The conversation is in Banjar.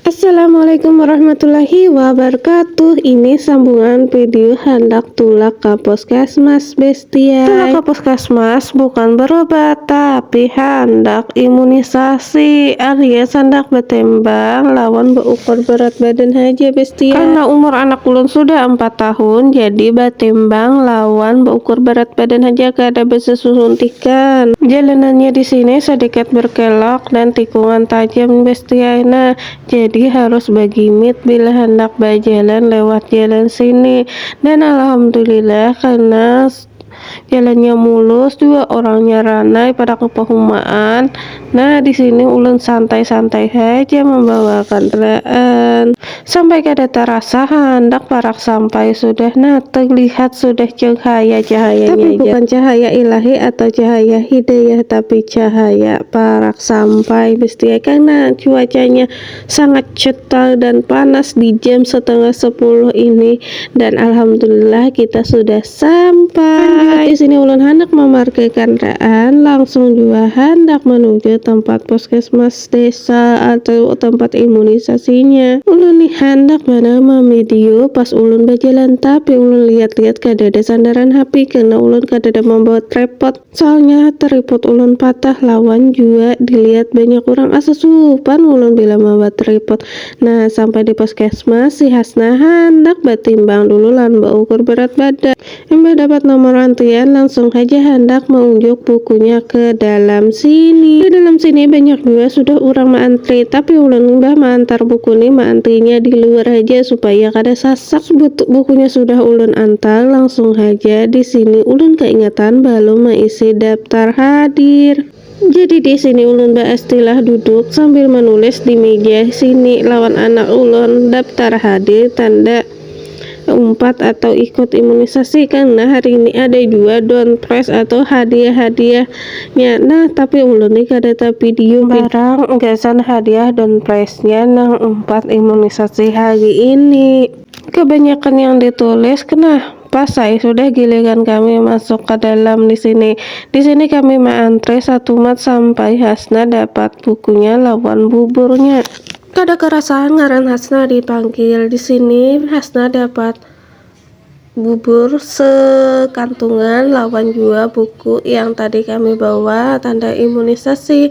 Assalamualaikum warahmatullahi wabarakatuh Ini sambungan video handak tulak ka puskesmas bestiai Tulak ka puskesmas bukan berobat tapi handak imunisasi alias handak betembang lawan beukur berat badan haja bestiai Karena umur anak ulun sudah ampat tahun jadi betembang lawan beukur berat badan haja kada besesuntikan. Jalanannya disini sedikit berkelok Nan tikungan tajam besti ai nah, jadi harus bagimit bila handak bajalan lewat jalan sini. Dan alhamdulillah karena jalannya mulus jua orangnya ranai pada kapahumaan, nah di sini ulun santai-santai haja mambawa kandaraan. Sampai kada tarasa handak parak sampai sudah nah terlihat sudah cahaya cahayanya tapi bukan cahaya ilahi atau cahaya hidayah tapi cahaya parak sampai bestiai karena cuacanya sangat cetar dan panas di jam setengah sepuluh ini dan alhamdulillah kita sudah sampai di sini ulun handak memarkirkan raan langsung jua handak menuju tempat puskesmas desa atau tempat imunisasinya. Ulun nih handak manamam video pas ulun bajalan tapi ulun lihat-lihat kadada sandaran HP karena ulun kadada mambawa trepot soalnya tripod ulun patah lawan jua dilihat banyak urang asa supan ulun bila mambawa tripod. Nah sampai di puskesmas si Hasna handak batimbang dulu lawan baukur berat badan. Imbah dapat nomor antrian, langsung haja handak maunjuk bukunya ke dalam sini. Di dalam sini banyak jua sudah urang maantri, tapi ulun imbah maantar buku ni maantrinya di luar haja supaya kada sasak. Bukunya sudah ulun antar, langsung haja di sini ulun kaingatan balum maisi daptar hadir. Jadi di sini ulun baistilah duduk sambil menulis di meja sini lawan anak ulun daptar hadir tanda umpat atau ikut imunisasi karena hari ini ada jua down price atau hadiah-hadiahnya nah tapi ulun ni kada tapidiu barang gasan hadiah down price-nya nang umpat imunisasi hari ini. Kebanyakan yang ditulis kena Pasai, sudah giliran kami masuk ka dalam di sini. Di sini kami maantre satumat sampai Hasna dapat bukunya lawan buburnya. Kada karasa ngaran Hasna di panggil. Di sini Hasna dapat bubur sekantungan lawan jua buku yang tadi kami bawa tanda imunisasi.